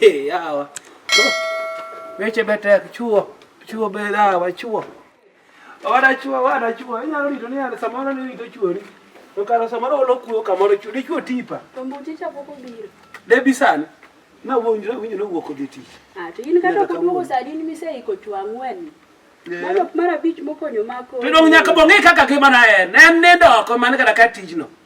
Yawa. Weche betek chuo, chuo be dawa chuo. Ora chuo, ora chuo, inyalo rito ni ana samoro ni rito chuori. To kara samoro olo kuo kamoro chuo, ni chuo tipa. To mbuti cha poko biro. Debi sana. Na wonjre winyo no wuok odhi tich. Ah, to in kata kuduogo saa din miseiko chuo ang'wen. Mano mara bich mokonyo mako. To dong nyaka bong'e kaka kimana en. En nindo oko man kata ka tijno.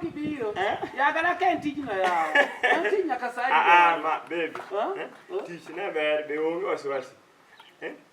kibiro eh? yaga na ken tijno yawo tij nyaka saidi ah, ah, ma baby eh? tich ne ber be onge wasiwasi eh?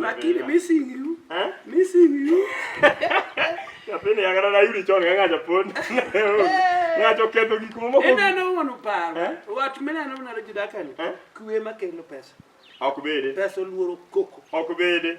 lakini missing you eh? missing you yapene yagara na yuri chone nga japon nga choketo gikumo ko ina no wono paro eh? watu mena no na rejida kani eh? kuwe makelo pesa akubede pesa luoro koko akubede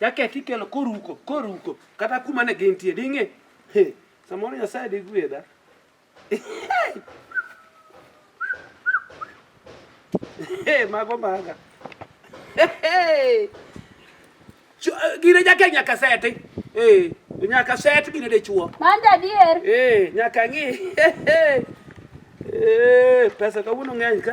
Jaket ikelo koruko, koruko kata kuma ne gintie ding'e. He, samoro Nyasaye digwedha. Hey, mago maga. Hey. Eh, gine jake nyaka seti. Eh, nyaka set gine dichuo. Manda dier. Eh, nyaka ng'i. Eh, pesa kawuono ng'eny ka.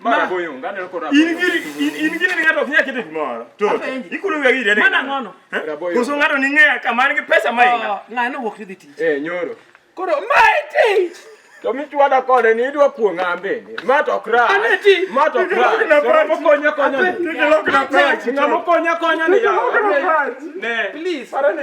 Mara boyo ngane loko rabo. In giri in giri ni ngato kia kitu moro. To. Ikulu ya giri. Mana ngono. Kuso ngato ni ngea kama ni pesa mai. Oh, ngano wok ni tich. Eh nyoro. Koro mai tich. To mi chwada kode ni idwa kuo ngambe ni. Ma to kra. Ma to kra. Ngamo konya konya. Ngamo konya konya ni ya. Ne. Please. Para ne.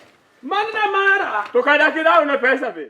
Manna mara. To ka daki dawo ne pesa be.